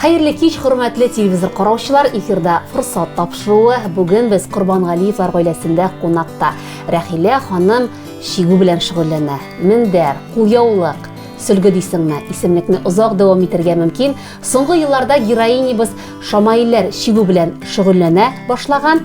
Хәерле кич, хөрмәтле телевизор караучылар! Эфирда форсат тапшыруы. Бүген без Корбангалиевлар гаиләсендә кунакта. Рәхилә ханым чигү белән шөгыльләнә. Мендәр, кулъяулык, сөлге дисеңме, исемлекне озак дәвам итергә мөмкин. Соңгы елларда героинябыз Шамаилләр чигү белән шөгыльләнә башлаган.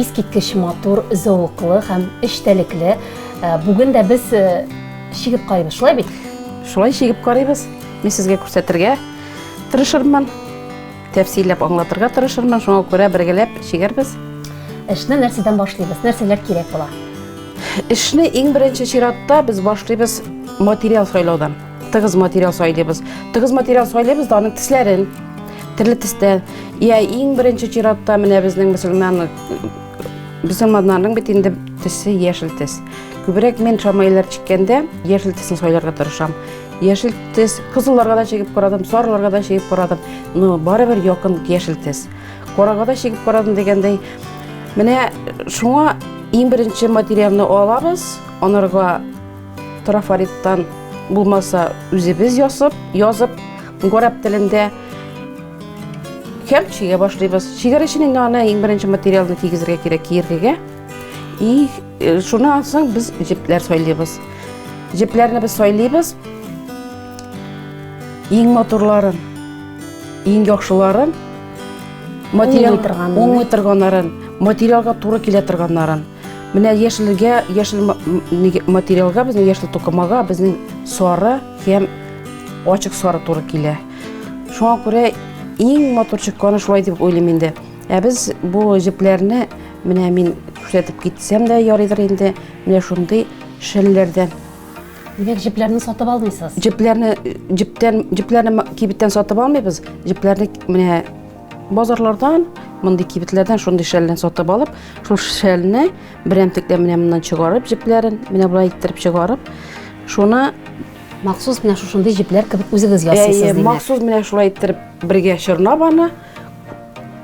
Искиткеч матур, зәвыклы һәм эчтәлекле. Бүген дә без чигеп карыйбыз, шулай бит? Шулай чигеп карыйбыз. Мин сезгә күрсәтергә тырышырмын, тәфсилләп аңлатырга тырышырмын, шуңа күрә бергәләп чигәрбез. Эшне нәрсәдән башлыйбыз? Нәрсәләр кирәк була? Эшне иң беренче чиратта без башлыйбыз материал сайлаудан. Тыгыз материал сайлыйбыз. Тыгыз материал сайлыйбыз да аның тисләрен. Төрле тистә. Я иң беренче чиратта менә безнең мусульман мусульманнарның бит инде тесе яшел тес. Күбрәк мен шамайлар чиккәндә яшел тесне сайларга тырышам. Яшел тес кызылларга да чигеп карадым, сарыларга да чигеп карадым. Но барыбер якын яшел тес. Карага да чигеп карадым дигәндәй. Менә шуңа иң беренче материалны алабыз, анарга Трафариттан булмаса үзебез ясып, язып, горәп телендә һәм чигә башлыйбыз. Чигәр өчен инде аны иң беренче материалны кигезергә кирәк киергегә. И э, шуны алсаң без җепләр сайлыйбыз. Җепләрне без сайлыйбыз. Иң матурларын, иң яхшыларын материал торганнарын, материалга туры килә торганнарын Менә яшелгә, яшел материалга, безнең яшел тукымага безнең сары һәм ачык сары туры килә. Шуңа күрә иң матур чыкканы шулай дип уйлыйм инде. Ә без бу җепләрне менә мин күрсәтеп китсәм дә ярыйдыр инде. Менә шундый шәлләрдән. Димәк, җепләрне сатып алмыйсыз? Җепләрне җептән җепләрне кибеттән сатып алмыйбыз. Җепләрне менә Базарлардан, мондый кибетләрдән шундый шәлне сатып алып, шул шәлне берәмтекләр менә моннан чыгарып, җепләрен менә болай иттереп чыгарып, шуны махсус менә шушындый җепләр кебек үзегез ясыйсыз димәк. Махсус менә шулай иттереп бергә чорнап аны,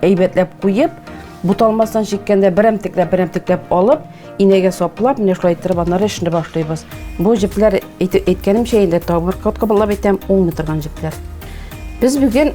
әйбәтләп куеп, буталмастан чиккәндә берәмтекләп берәмтекләп алып, инәгә саплап, менә шулай иттереп аннары эшне башлыйбыз. Бу җепләр әйткәнемчә инде табыр кот кабатлап әйтәм, уңмый торган җепләр. Без бүген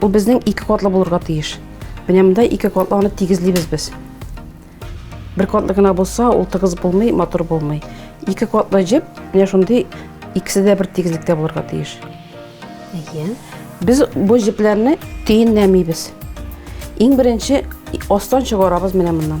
Ул безнең ике катлы булырга тиеш. Менә монда ике катлы аны тигезлибез без. Бер катлы гына булса, ул тыгыз булмый, матур булмый. Ике катлы җеп, менә шундый икесе дә бер тигезлектә булырга тиеш. Әйе. Без бу җепләрне төенләмибез. Иң беренче астан чыгарабыз менә моннан.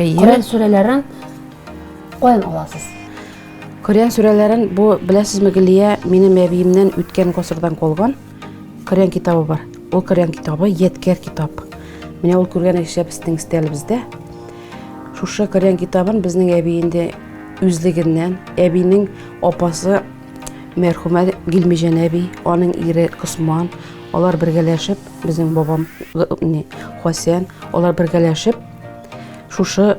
Коръән сүрәләрен каян аласыз? Коръән сүрәләрен бу беләсезме Гөлия, минем әбиемнән үткән гасырдан калган Коръән китабы бар. Ул Коръән китабы яткәр китап. Менә ул күргән эшләр безнең стәлебездә. Шушы Коръән китабын безнең әби инде үзлегеннән, әбинең апасы мәрхүмә Гилмиҗән әби, аның ире Косман, алар бергәләшеп, безнең бабам Хасән, алар бергәләшеп шушы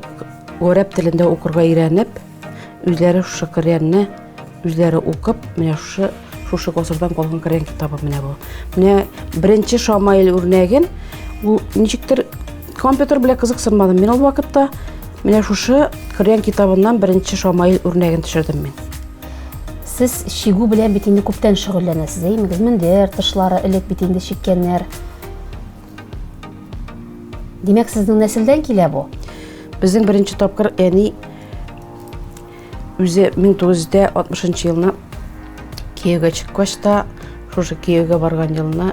гарәп телендә укырга өйрәнеп, үзләре шушы Коръәнне үзләре укып, менә шушы шушы гасырдан калган Коръән китабы менә бу. Менә беренче Шамаил үрнәген ул ничектер компьютер белән кызыксынмадым. Мин ул вакытта менә шушы Коръән китабыннан беренче Шамаил үрнәген төшердем мин. Сез шигу белән бит инде күптән шөгыльләнәсез, әйемегез, мендәр, тышлары элек бит инде чиккәннәр. Димәк, сезнең нәселдән килә бу? Безнең беренче тапкыр әни үзе 1960 елны кияүгә чыккач та, шушы кияүгә барган елына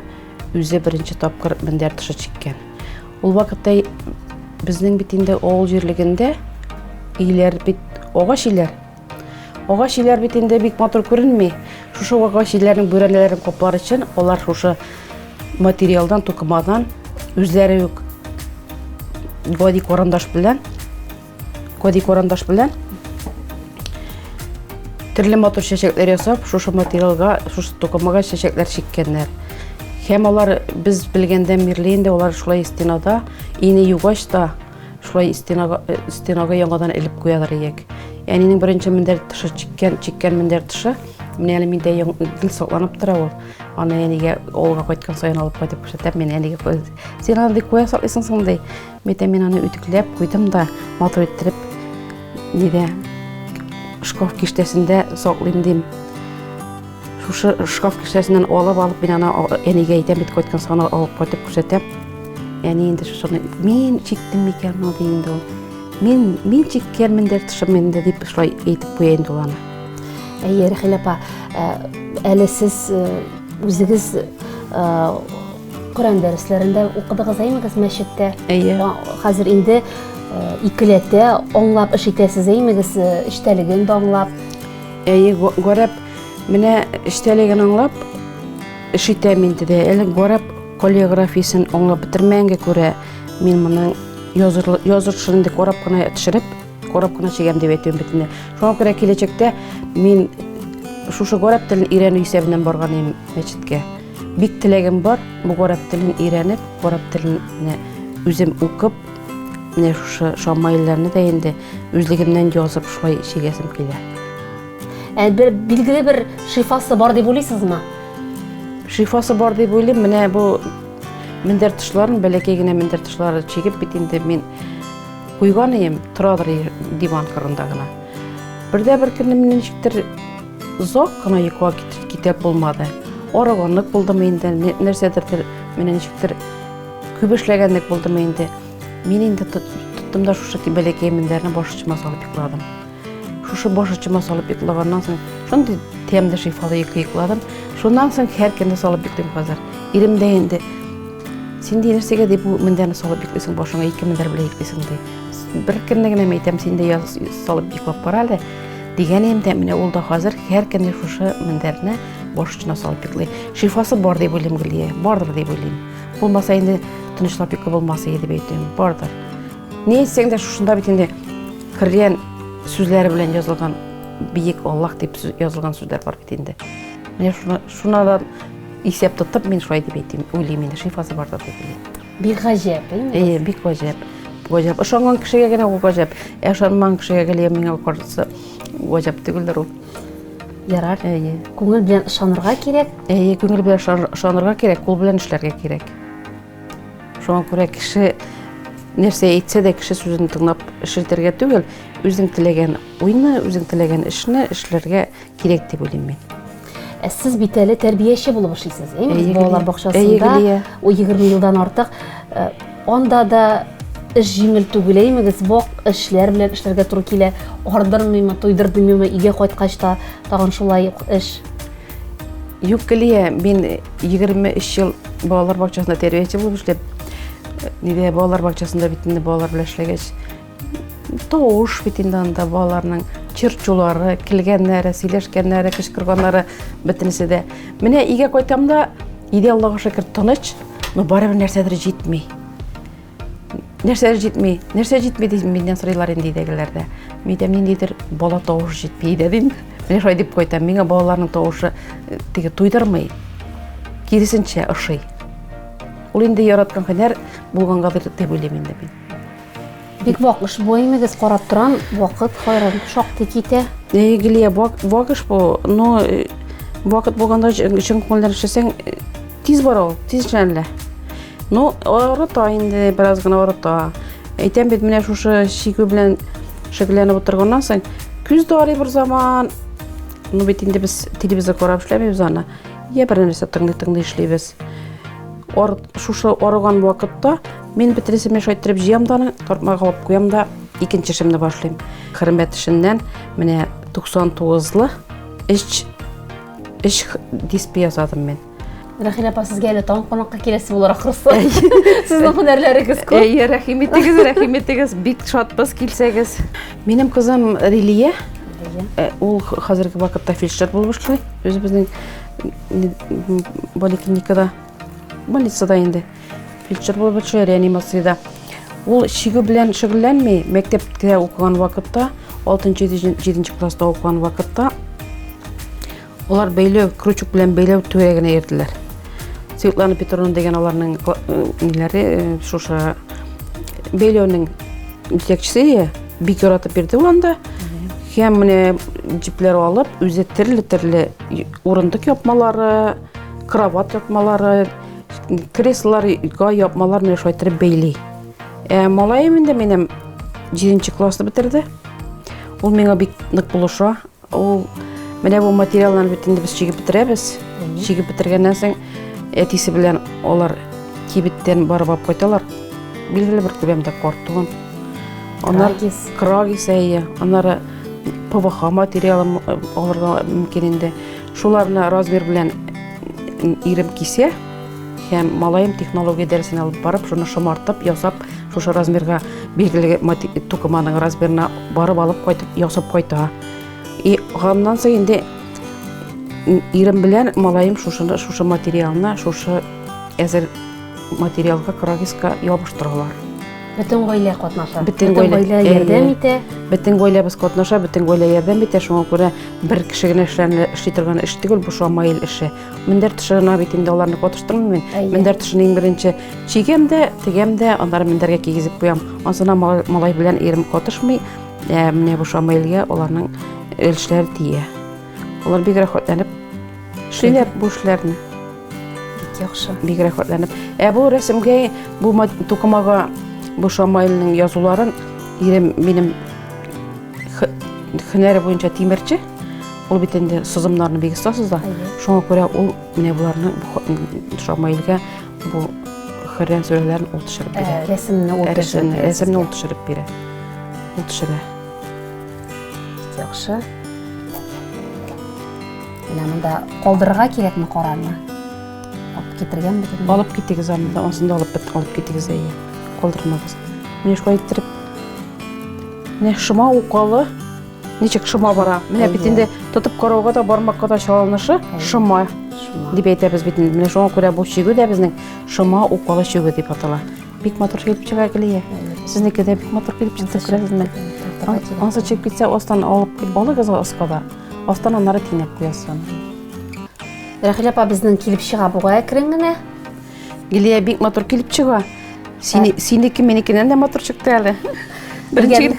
үзе беренче тапкыр мендәр тышы чиккән. Ул вакытта безнең бит инде авыл җирлегендә өйләр бит агач өйләр, Агач иләр бит инде бик матур күренми. Шушы агач иләрнең бүрәнәләрен каплар өчен алар шушы материалдан, тукымадан үзләре үк гади карандаш белән гади карандаш белән төрле матур чәчәкләр ясап, шушы материалга, шушы тукымага чәчәкләр чиккәннәр. Һәм алар без белгәндә мирли инде, алар шулай стенада, ине югач та Шулай стенага, э, стенага яңадан элеп куялар иек. Әнинең беренче мендәр тышы чиккән, чиккән мендәр тышы. Менә әле миндә гел сакланып тора ул. Аны әнигә авылга кайткан саен алып кайтып күрсәтәм, мин әнигә куйдым. Син аны бик куя саклыйсың соң ди. Митә мин аны үтекләп куйдым да, матур иттереп нидә шкаф киштәсендә саклыйм дим. Шушы шкаф кесәсеннән алып алып мин аны әнигә әйтәм бит кайткан саны алып кайтып күрсәтәм. Әни инде шушыны мин чиктем микән ул ди инде ул. Мин мин чиккәнмен дә тышым инде дип шулай әйтеп куя инде ул аны. Әйе, Рәхилә апа, әле сез үзегез Коран дәресләрендә укыдыгыз әймегез мәчеттә? Әйе. Хәзер инде икеләтә аңлап эш итәсез әймегез, эчтәлеген дә аңлап. Әйе, гарәп менә эчтәлеген аңлап эш итәм инде дә. Әле гарәп каллиграфиясен аңлап бетермәгәнгә күрә, мин моның языршын инде карап кына төшереп, карап кына чигәм дип әйтәм битенә. Шуңа күрә киләчәктә мин шушы гарәп телен өйрәнү исәбеннән барган идем мәчеткә. Бик теләгем бар, бу гарәп телен өйрәнеп, гарәп телен үзем укып, Менә шушы шамайларны да инде үзлегемнән язып шулай чигәсем килә. Ә бер билгеле бер шифасы бар дип уйлыйсызмы? Шифасы бар дип уйлыйм. Менә бу мендәр тышларын, бәләкәй генә мендәр тышлары чигеп бит инде мин куйган идем, торадыр диван кырында гына. Бердә бер көнне мин ничектер зак кына йокыга китеп булмады. Арыганлык булдымы инде, нәрсәдер менә ничектер Күп эшләгәнлек булдымы инде? Мин инде тоттым да шушы бәләкәй мендәрне баш очыма салып йокладым. Шушы баш очыма салып йоклаганнан соң шундый тәмле шифалы йокы йокладым. Шуннан соң һәр көнне салып йоклыйм хәзер. Ирем дә инде син дә нәрсәгә дип бу мендәрне салып йоклыйсың башыңа ике мендәр белән йоклыйсың ди. Бер көнне генә әйтәм син дә салып йоклап кара әле. Дигән идем дә менә ул да хәзер һәр көнне шушы мендәрне баш очына салып йоклый. Шифасы бар дип уйлыйм Гөлия, бардыр дип уйлыйм. Булмаса инде тынычлап йокы булмас иде дип әйтәм. Бардыр. Ни әйтсәң дә шушында бит инде кергән сүзләре белән язылган биек Аллах дип язылган сүзләр бар бит инде. Менә шуна шунадан исәп тотып мин шулай дип әйтәм, уйлыйм инде шифасы бардыр дип уйлыйм. Бик гаҗәп, инде. Э, бик гаҗәп. Гаҗәп. Ошанган кешегә генә ул гаҗәп. Ә ошанмаган кешегә гелә миңа карсы гаҗәп түгелдер ул. Ярар. Әйе. Күңел белән ышанырга кирәк. Әйе, күңел белән ышанырга кирәк, кул белән эшләргә кирәк. Шуңа күрә кеше нәрсә әйтсә дә кеше сүзен тыңлап эшләтергә түгел, үзең теләгән уйны, үзең теләгән эшне эшләргә кирәк дип уйлыйм мин. Ә сез бит әле тәрбияче булып эшлисез, әйе? Балалар бакчасында 20 елдан артык Анда да эш җиңел түгел, әймегез, вак эшләр белән эшләргә туры килә. Ардырмыймы, туйдырмыймы, өйгә кайткач та тагын шулай ук эш. Юк, Гөлия, мин 23 ел балалар бакчасында тәрбияче булып эшләп, нидә балалар бакчасында бит инде балалар белән эшләгәч, Тавыш бит инде анда балаларның чырчулары, килгәннәре, сөйләшкәннәре, кычкырганнары бөтенесе дә. Менә өйгә кайтам да, өйдә Аллага шөкер тыныч, но барыбер нәрсәдер җитми. Нәрсәдер җитми, нәрсә җитми дип миннән сорыйлар инде өйдәгеләр дә. Мин әйтәм, ниндидер бала тавыш җитми өйдә дим. Менә шулай дип кайтам. Миңа балаларның тавышы э, теге туйдырмый. Киресенчә ошый. Ул инде яраткан һөнәр булганга дип уйлыйм инде мин. Бик вак эш бу имегез карап торам, вакыт хайран шактый китә. Әй Гилия, вак эш бу, но э, вакыт булганда чын күңелдән эшләсәң э, тиз бара ул, тиз эшләнелә. Ну, арыта инде, бераз гына арыта. Әйтәм бит, менә шушы шигү белән шөгыльләнеп утырганнан соң, күз дә арый бер заман. Ну бит инде без телевизор карап эшләмибез аны. Я бер нәрсә тыңлый-тыңлый эшлибез. Ар, шушы арыган вакытта Мин бетересемне шайтырып җыям да аны, тартмага алып куям да, икенче эшемне башлыйм. Хөрмәт эшеннән менә 99-лы эш эш диспе ясадым мин. Рәхилә апа, сезгә әле тагын кунакка киләсе булыр ахрысы. Сезнең һөнәрләрегез күп. Әйе, рәхим итегез, рәхим итегез. Бик шатбыз килсәгез. Минем кызым Рилия. Э, ул хәзерге вакытта фельдшер булып эшли. Үзебезнең поликлиникада, больницада инде. фельдшер булып эшли реанимациядә ул чигү белән шөгыльләнми мәктәптә укыган вакытта алтынчы җиденче класста укыган вакытта олар бәйләү крючок белән бәйләү төбәгенә йөрделәр светлана петровна деген аларның ниләре шушы бәйләүнең җитәкчесе бик яратып бирде ул анда һәм менә җепләр алып үзе төрле төрле урындык япмалары кровать япмалары Креслоларга япмалар менә шулай иттереп бәйли. Ә малаем инде минем 7 классны бетерде. Ул миңа бик нык булыша. Ул менә бу материалларны бит инде без чигеп бетерәбез. Чигеп бетергәннән соң әтисе белән алар кибеттән барып алып кайталар. Билгеле бер күләмдә картон. Анар крагис әйе. Анары ПВХ материалы алырга мөмкин инде. Шуларны размер белән ирем кисә һәм малаем технология дәресен алып барып, шуны шомартып, ясап, шушы размерга билгеле тукыманың размерына барып алып кайтып, ясап кайта. И ганнан соң инде ирем белән малаем шушыны, шушы материалны, шушы әзер материалга, крагиска ябыштыралар. Бөтен гаилә катнаша. Бөтен гаилә ярдәм итә. Бөтен гаиләбез катнаша, бөтен гаилә ярдәм итә. Шуңа күрә бер кеше генә эшли торган эш түгел, бу шамаил эше. Мендәр тышына бит инде аларны катыштырмыйм мин. Мендәр тышын иң беренче чигәм дә, тегәм дә, аннары мендәргә кигезеп куям. Ансына малай белән ирем катышмый. Ә менә бу шамаилгә аларның өлешләре тия. Алар бик рәхәтләнеп шиләп бу эшләрне. Бик яхшы. Бик рәхәтләнеп. Ә бу рәсемгә бу тукымага бу Шамайлның язуларын ирем минем хөнәре буенча тимерче. Ул бит инде сызымнарны бик оста сыза. Шуңа күрә ул менә буларны Шамайлга бу Коръән сүрәләрен ул төшереп бирә. Рәсемне ул төшереп бирә. Рәсемне ул төшереп бирә. Ул төшерә. Яхшы. Менә монда калдырырга кирәкме карарны? Алып китергән бит. Алып китегез аны да, асын да алып бит, алып китегез дә. Калдырмагыз. Менә шулай иттереп. Менә шома укалы. Ничек шома бара? Менә бит инде тотып карауга да бармакка да чалынышы шома дип әйтәбез бит инде. Менә шуңа күрә бу чигү дә безнең шома укалы чигү дип атала. Бик матур килеп чыга Гөлия. Сезнеке дә бик матур килеп чыкты, күрәсезме? Ансы чыгып китсә, астан алып алыгыз аскада. Астан аннары тинәп куясын. Рәхил апа безнең килеп чыга буга әкрен генә. Гөлия бик матур килеп чыга. Сине синеке минекеннән дә матур чыкты әле. Беренче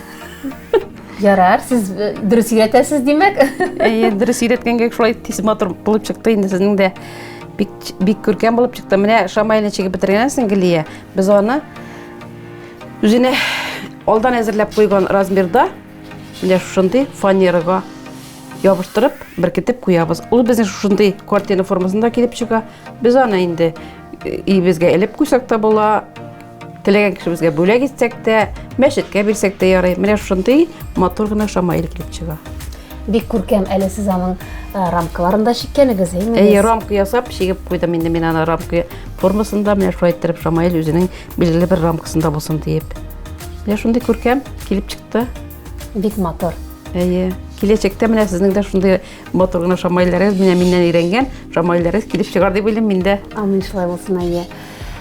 Ярар, сез э, дөрес өйрәтәсез, димәк. Әйе, дөрес өйрәткәнгә шулай тиз матур булып чыкты инде сезнең дә. Бик күркәм булып чыкты. Менә шамайлы чигеп бетергәнсең, Гелия. Без аны үзенә алдан әзерләп куйган размерда, менә шушындый фанерага ябыштырып, беркетеп куябыз. Ул безнең шушындый картина формасында килеп чыга. Без аны инде өебезгә элеп куйсак та була, Теләгән кешебезгә бүләк итсәк тә, мәчеткә бирсәк тә ярый. Менә шундый матур гына шамаил килеп чыга. Бик күркәм әле сез аның э, рамкаларын да чиккәнегез, әйме? Әйе, рамка ясап чигеп куйдым инде мин аны рамка формасында, менә шулай иттереп шамаил үзенең билгеле бер рамкасында булсын диеп. Менә шундый күркәм килеп чыкты. Бик матур. Әйе. Киләчәктә менә сезнең дә шундый матур гына шамаилларыгыз, менә миннән өйрәнгән шамаилларыгыз килеп чыгар дип уйлыйм мин дә. Амин шулай булсын, әйе.